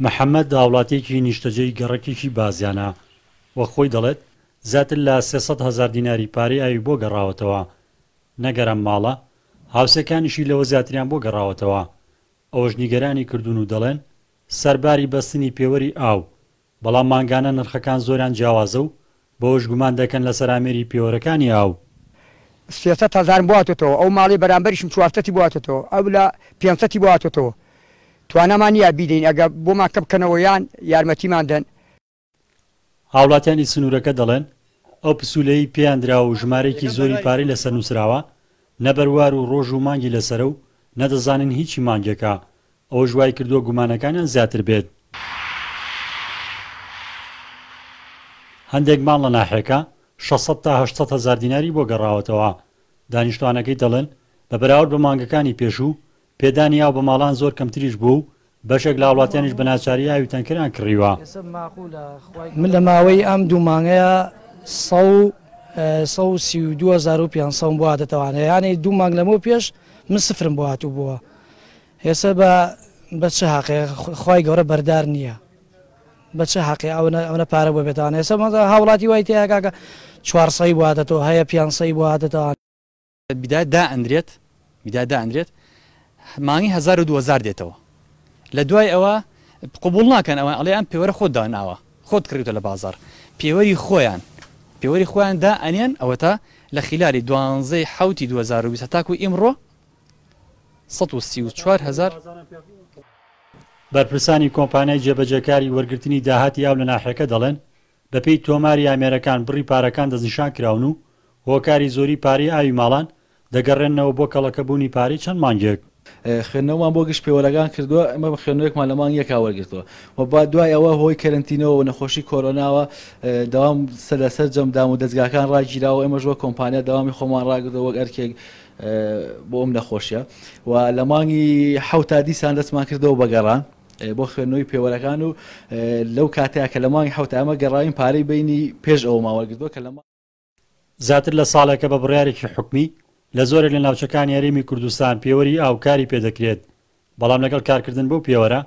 محەمەد هاوڵاتیەکی نیشتەجێی گەڕەکێکی بازیانە و خۆی دەڵێت، زیاتر لە سێ سەد هەزار دیناری پارەی ئاوی بۆ گەڕاوەتەوە، نەگەر ئەم ماڵە، هاوسێکانیشی لەوە زیاتریان بۆ گەڕاوەتەوە، ئەوەش نیگەرانی کردوون و دەڵێن، سەرباری بەستنی پێوەری ئاو، بەڵام مانگانە نرخەکان زۆریان جیاوازە و بەوەش گومان دەکەن لەسەر ئامێری پێوەرەکانی ئاو. سێ سەد هەزارم بۆ هاتۆتەوە، ئەو ماڵەی بەرامبەریشم چوار سەتی بۆ هاتۆتەوە، ئەو لە پێنج سەتی بۆ هاتۆتەوە. توانامان نییە بیدەین، ئەگەر بۆمان کەم بکەنەوە یان یارمەتیمان دەن. هاوڵاتیانی سنوورەکە دەڵێن، ئەو پسوولەیەی پێیان دراوە و ژمارەیەکی زۆری پارەی لەسەر نووسراوە، نە بەروار و ڕۆژ و مانگی لەسەرە و نە دەزانین هیچی مانگێکە، ئەوەش وای کردووە گومانەکانیان زیاتر بێت. هەندێک ماڵ لە ناحیەکە شەش سەد تا هەشت سەد هەزار دیناری بۆ گەڕاوەتەوە. دانیشتوانەکەی دەڵێن، بە بەراورد بە مانگەکانی پێشوو، پێدانی ئاو بە ماڵان زۆر کەمتریش بووە و بەشێک لە هاوڵاتیانیش بە ناچاری ئاوی تەنکەریان کڕیوە. من لە ماوەی ئەم دوو مانگەیا سە و سە و سی و دوو هەزار و پێنج سەدم بۆ هاتەتەوە، یانێ دوو مانگ لەمەو پێش من سفرم بۆ هاتووبووە. ئێسە بە بە چ هەقێ خوای گەورە بەردار نییە بە چ هەقێ ئەونە ئەونە پارە بۆ بێتان ئێسە مەزە هاوڵاتی وای تێ کاکە چوار سەی بوادەتەوە هەیە پیان سەی بوادەتان بیدات دا ئەندرێت بیدات دا ئەندرێت مانگی هەزار و دوەزار دێتەوە لە دوای ئەوە قبوڵ ناکەن ئەوان ئەڵێ ئەم پێوەرە خۆت داناوە خۆت کڕیتە لە بازار پێوەری خۆیان پێوەری خۆیان دا ئەنێن ئەوەتا لە خلالی دوانزەی حوتی دوەزار و بیست هەتاکو ئیمڕۆ سەد و سی و چوار هەزار. بەرپرسانی کۆمپانیای جێبەجێکاری وەرگرتنی داهاتی ئاو لە ناحیەکە دەڵێن، بەپێی تۆماری ئامێرەکان بڕی پارەکان دەستنیشان کراون و هۆکاری زۆری پارەی ئاوی ماڵان دەگەڕێننەوە بۆ کەڵەکەبوونی پارەی چەند مانگێک. خوێندنەوەمان بۆ گشت پێوەرەکان کردووە، ئێمە بە خوێندنەوەیەکمان لە مانگ یەکا وەرگرتووە و با دوای ئەوە هۆی کەرەنتینەوە و نەخۆشی کۆرۆناوە دەوام سەر لە سەرجەم دامودەزگاکان ڕاگیراوە، ئێمەش وەک کۆمپانیا دەوامی خۆمان ڕاگرتووە وەک ئەرکێک، بۆ ئەم نەخۆشیە و لە مانگی حەوتا دیسان دەستمان کردەوە بە گەڕان بۆ خوێندنەوەی پێوەرەکان و لەو کاتەیە کە لە مانگی حەوتا ئەمە گەڕاوین پارەی بینی پێش ئەوەمان وەرگرتووە کە لە زیاتر لە ساڵێکە بە بڕیارێکی حکومی لە زۆرێک لە ناوچەکانی هەرێمی کوردستان پێوەری ئاو کاری پێدەکرێت بەڵام لەگەڵ کارکردن بەو پێوەرە،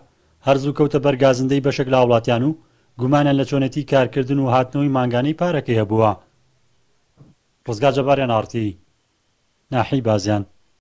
هەر زوو کەوتە بەر گازندەی بەشێک لە هاوڵاتیان و گومانیان لە چۆنێتیی کارکردن و هاتنەوەی مانگانەی پارەکەی هەبووە. ڕزگار جەباریان ئاڕتی ناحیەی بازیان.